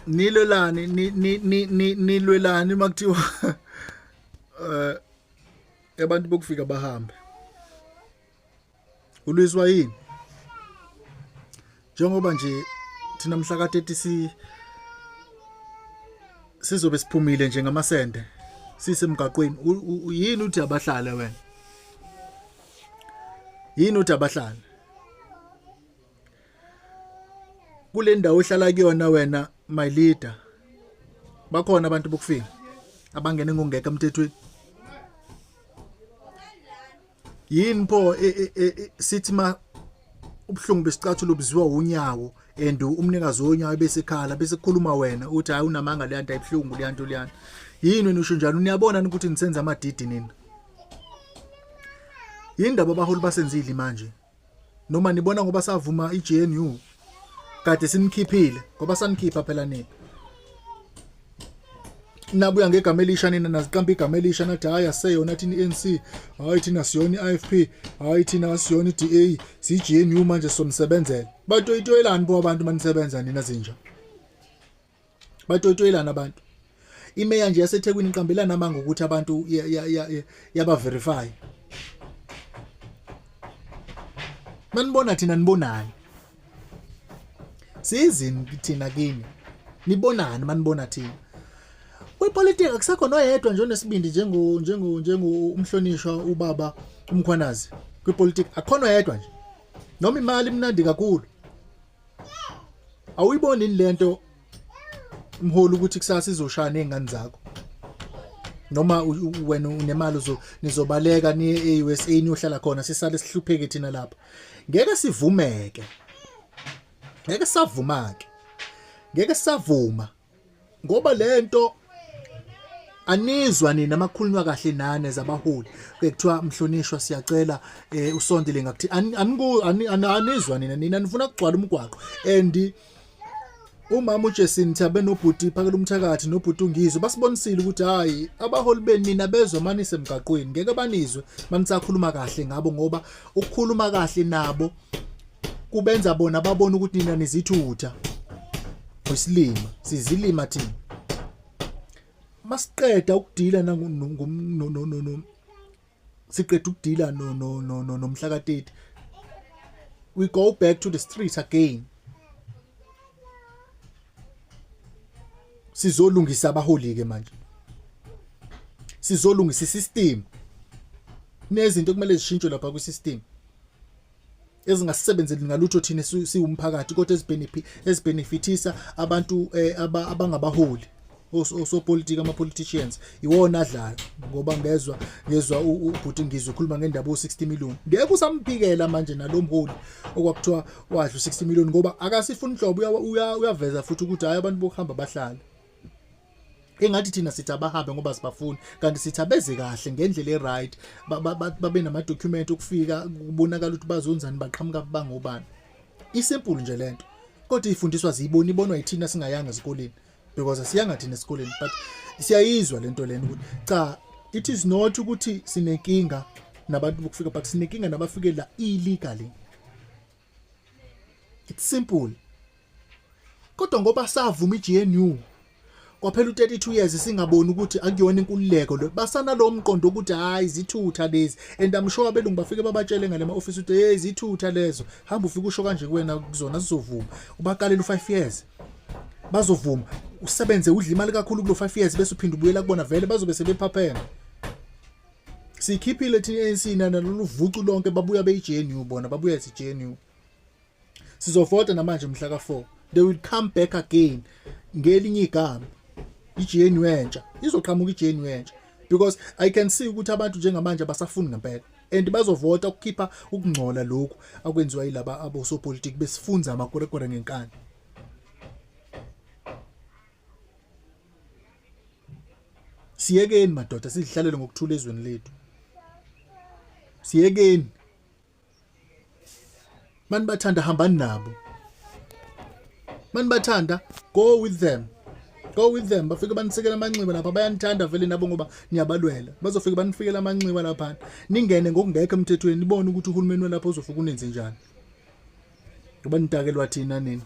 nilelani nilwelani uma kuthiwa um abantu bokufika bahambe ulwiswa yini njengoba nje thina mhla ka-30 si sizobe siphumile nje ngamasende sisemgaqweni yini uthi abahlale wena yini uthi abahlale kule ndawo ohlala kuyona wena my leader bakhona abantu bokufika abangene ngongeka emthethweni yini pho e, e, e, sithi ma ubuhlungu besicathulo buziwa unyawo and umnikazi wonyawo besekhala bese kukhuluma wena uthi hayi unamanga le nto ayibuhlungu le nto leyana yini wena usho njalo niyabona ukuthi nisenza amadidi nina yini ndaba abaholi basenzile manje noma nibona ngoba savuma iGNU kade sinikhiphile ngoba sanikhipha phela nini nabuya ngegama elisha nina naziqamba igama elisha nathi hayi aseyona thina i-ANC hayi thina siyona i-IFP hayi thina asiyona i-DA siyi-GNU manje somsebenzela batoyitoyelani bo abantu manisebenza nina zinja batotoyelana abantu imeya nje yasethekwini iqambelana amanga ukuthi abantu yabaverify manibona thina nibonani sizini thina kini nibonani manibona thina kwipolitiki akusekho noyedwa nje onesibindi njengo njengo njengo umhlonishwa ubaba umkhwanazi kwipolitiki akhona yedwa nje noma imali imnandi kakhulu awuyiboni yini lento mholi ukuthi kusasa izoshaya nezingane zakho noma wena unemali uzo nizobaleka ni eUSA niyohlala khona sisale sihlupheke thina lapha ngeke sivumeke ngeke savumake ngeke savuma ngoba lento anizwa nina makhulunywa kahle nane zabaholi kuthiwa mhlonishwa siyacela eh, usondele ngakuthi aniku anizwa nina nina nifuna kugcwala umgwaqo and umama uJesin Thabe nobhuti phakela umthakathi nobhuti ungizwe basibonisile ukuthi hayi abaholi benina bezwe manise emgaqweni ngeke banizwe manisakhuluma kahle ngabo ngoba ukukhuluma kahle nabo kubenza bona babona ukuthi nina nizithutha wesilima sizilima thina masiqeda ukudila nangu siqeda ukudila no no no no nomhlakateti we go back to the streets again sizolungisa abaholi ke manje sizolungisa isystem nezinto kumele zishintshwe lapha kwisystem ezingasisebenzeli ngalutho thina siwumphakathi kodwa ezibenefithisa abantu eh, abangabaholi osopolitiki ama-politicians iwona adlala ngoba ngezwa ngezwa ubhuti ngizwe ukhuluma ngendaba u-60 million ngeke usamphikela manje nalo mholi okwakuthiwa wadla u-60 million ngoba akasifuni nhlobo uyaveza futhi ukuthi hhayi abantu bokuhamba bahlale engathi thina sithi abahambe ngoba sibafuni kanti sithi abeze kahle ngendlela eright babe namadocument okufika kubonakala ukuthi bazonzani baqhamuka bangobani isimple nje lento kodwa ifundiswa ziyibona ibonwa yithina singayanga esikoleni because asiyanga thina esikoleni but siyayizwa lento lena ukuthi cha it is not ukuthi sinenkinga nabantu bokufika but sinenkinga nabafike la illegally it's simple kodwa ngoba savuma iGNU kwaphela u32 years singaboni ukuthi akuyona inkululeko lo basana lo mqondo ukuthi hayi zithutha lezi and i'm sure abelungu bafike babatshele ngale ma office ukuthi hey zithutha lezo hamba ufike usho kanje kuwena kuzona sizovuma ubaqalela u5 years bazovuma usebenze udla imali kakhulu kulo 5 years bese uphinda ubuyela kubona vele bazobe sebephapheme sikhiphile thina ANC nana lolu vucu lonke babuya beyiJNU bona babuya ethi JNU sizovota namanje mhla ka4 they will come back again ngelinye igama iJNU entsha izoqhamuka iJNU entsha because i can see ukuthi abantu njengamanje abasafuni ngempela and bazovota ukukhipha ukungcola lokhu akwenziwa yilaba abosopolitiki besifunza amakorekore ngenkani siyekeni madoda sizihlalele ngokuthula ezweni lethu siyekeni mani bathanda hambani nabo mani bathanda go with them go with them bafike banisekela amanxiba lapha bayanithanda vele nabo ngoba niyabalwela bazofike banifikela amanxiba laphana ningene ngokungekho emthethweni nibone ukuthi uhulumeni welapha uzofika unenze njani ngoba nidakelwa thina nina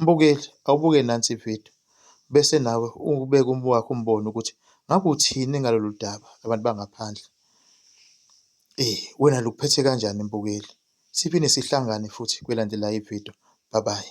Mbukeli, Awubuke nansi ividiyo bese nawe ubeke owakho umbono ukuthi ngabe uthini ngalolu daba labantu bangaphandle. Eh, wena lukuphethe kanjani mbukeli? Siphinde sihlangane futhi kwelandelayo ividiyo. Bye bye.